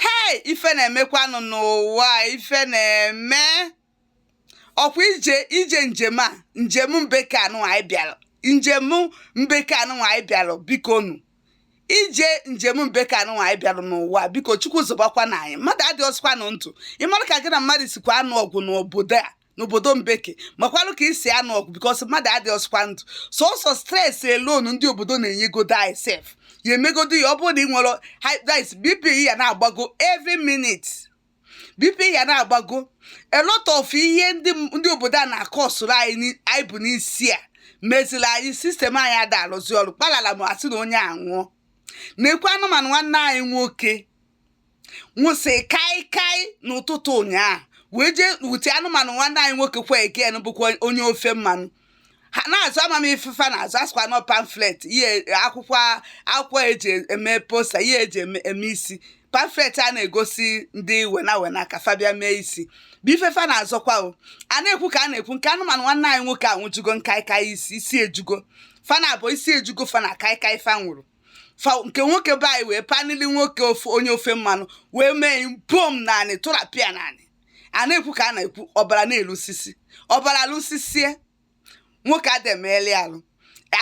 hei ife na-emekwanụ n'ụwa ife na-eme ọkwa ije ije njem a njem mbeke anụ anyị bịara njem mbeke anụ anyị bịara biko nụ ije njem mbeke anụ anyị bịara n'ụwa biko chukwu zọbakwa na anyị mmadụ adịrọzikwanụ ndụ ịmara ka gị na mmadụ sikwa anụ ọgụ n'obodo a n'obodo mbeke makwarụ ka i si anụ ọgụ because mmadụ adịrọzikwa ndụ sọsọ stress alone ndị obodo na-enyegodo anyị sef ya emegodo ya ọ bụrụ na ị nwere bp ya na-agbago every minute bp ya na-agbago a lot of ihe ndị obodo a na-akọsụrụ anyị bụ n'isi a meziri anyị system anyị ada alụzi ọrụ kpalalam a sị na onye anwụọ na-ekwu anụmanụ nwanne anyị nwoke nwụsị kaikai n'ụtụtụ ụnyaahụ wee jee wute anụmanụ nwanne anyị nwoke kwa again bụkwa onye ofe mmanụ ha na-azọ ama m ife fa na-azọ a sịkwa na ọ pamphlet ihe akwụkwọ akwụkwọ eji eme poster ihe eji eme eme isi pamphlet a na-egosi ndị wena wena ka fa bịa mee isi bụ ife fa na-azọkwa o a na-ekwu ka a na-ekwu nke anụmanụ nwanne anyị nwoke anwụjugo kaikai isi isi ejugo fa na abụọ isi ejugo fa na kaikai fa nwụrụ fa nke nwoke be anyị wee panili nwoke ofe onye ofe mmanụ wee mee bom n'anị tụrapịa n'anị a na-ekwu ka a na-ekwu ọbara na-elusisi ọbara lusisie nwoke ada emeli alụ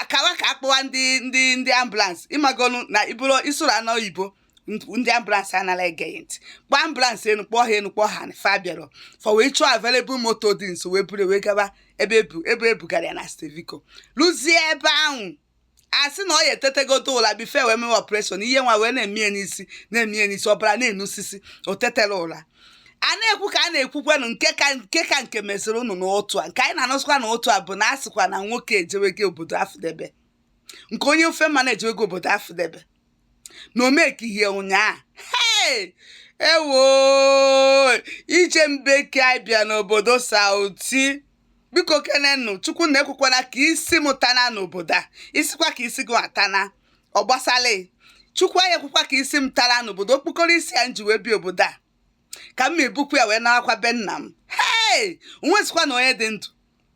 akawa ka akpọwa ndị ndị ndị ambulance ị magonu na iburu isoro anọ oyibo ndị ambulance anala ege gị ntị kpọọ ambulance enu kpọọ ha enu kpọọ ha fa abịarọ fa wee chọọ available moto dị nso wee buru wee gaba ebe ebu ebe ebugara ya na steve biko luzie ebe ahụ a sị na ọ ya etetegodo ụla before e wee mewe operation ihe nwa wee na-eme ya n'isi na-eme ya n'isi ọbara na-enusisi o tetela ụla a na-ekwu ka a na-ekwukwanụ nke ka nke ka nke meziri ụnụ n'ụtụtụ a nke anyị na-anụzikwa n'ụtụtụ a bụ na a sịkwa na nwoke ejewego obodo afụdebe nke onye ofe mmanụ ejewego obodo afụdebe na o mekighị ụnyaahụ hey! ewo ije mbeke anyị bịa n'obodo sauti biko kenenụ chukwu na ekwekwana ka isi m tana n'obodo a ị sịkwa ka isi gị atana ọ gbasala chukwu anyị ekwekwa ka isi m tara n'obodo okpokoro isi a m ji wee bịa obodo a ka m ebukwa ya wee naakwa be nna m hey! o nwezikwa na onye dị ndụ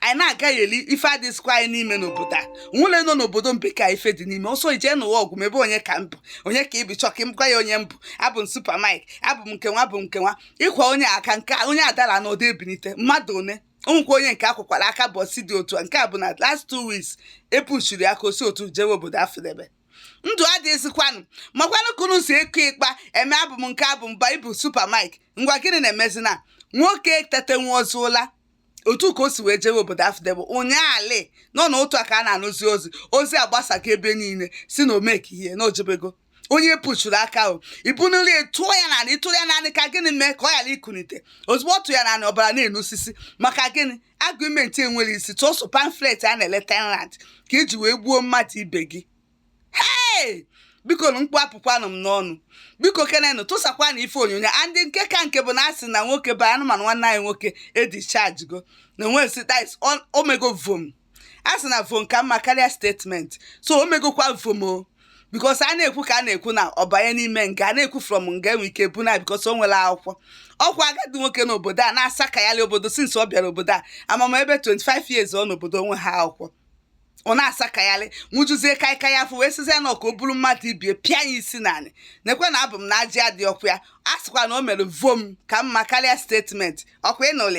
anyị na-agaghalị ife adịzikwa anyị n'ime n'obodo a nwụle nọ n'obodo mbeke ife dị n'ime ọsọ ije n'ụwa ọgụ mebe onye ka m bụ onye ka ị bụ chọka m gwa ya onye m bụ abụ m super mike abụ m nke nwa abụ m nke nwa ịkwa onye aka nke onye adara n'ọdụ ebinite mmadụ one onwekwa onye nke akwụkwara aka ụbọsị dị otu a nke a bụ na last two weeks epuchiri aka o si otu jewe obodo afụdebe ndụ adịghịzikwanụ makwanụ ka unu si ịkụ ịkpa eme abụ m nke abụ m ba ị bụ super mike ngwa gịnị na-emezina nwoke tete nwa ozu ụla otu ka o si wee jewe obodo afdebụ ụnyaahụ nọ na otu a ka a na-anụzi ozi ozi agbasaga ebe niile sị na o meka ihe na o jebego onye pushuru aka ahụ i bunili tụọ ya n'anị ị tụrụ ya n'anị ka gịnị mee ka ọ ghara ikunite ozugbo ọ tụ ya n'anị ọbara na-enusisi maka gịnị argument enwerọ isi tụọsụ pamphlet a na-ele ten rand ka i ji wee gbuo mmadụ ibe gị hei bikonụ mkpu apụkwanụ m n'ọnụ biko kenenụ tụsakwanụ ife onyonyo a ndị nke ka nke bụ na a sị na nwoke bụ anụmanụ nwanne anyị nwoke edischargego na nwesi dis o mego vom a sị na vom ka mma karịa statement so o megokwa vom o because a na-ekwu ka a na-ekwu na ọ banye n'ime nga a na-ekwu from nga e nwee ike buna because o nwerọ akwụkwọ ọ kwa agadi nwoke n'obodo a na-asakagharị obodo since ọ bịara obodo a maybe 25 years ọ nọ n'obodo o nweha akwụkwọ ọ na-asakagharị ṅụjuzie kaikai afọ wee sịzie na ọ ka o buru mmadụ ibie pịa ya isi n'anị nekwe na abụ m na ajị adị ọkụ ya a sịkwa na o mere vom ka mma karịa statement ọ kwa ị nụlịa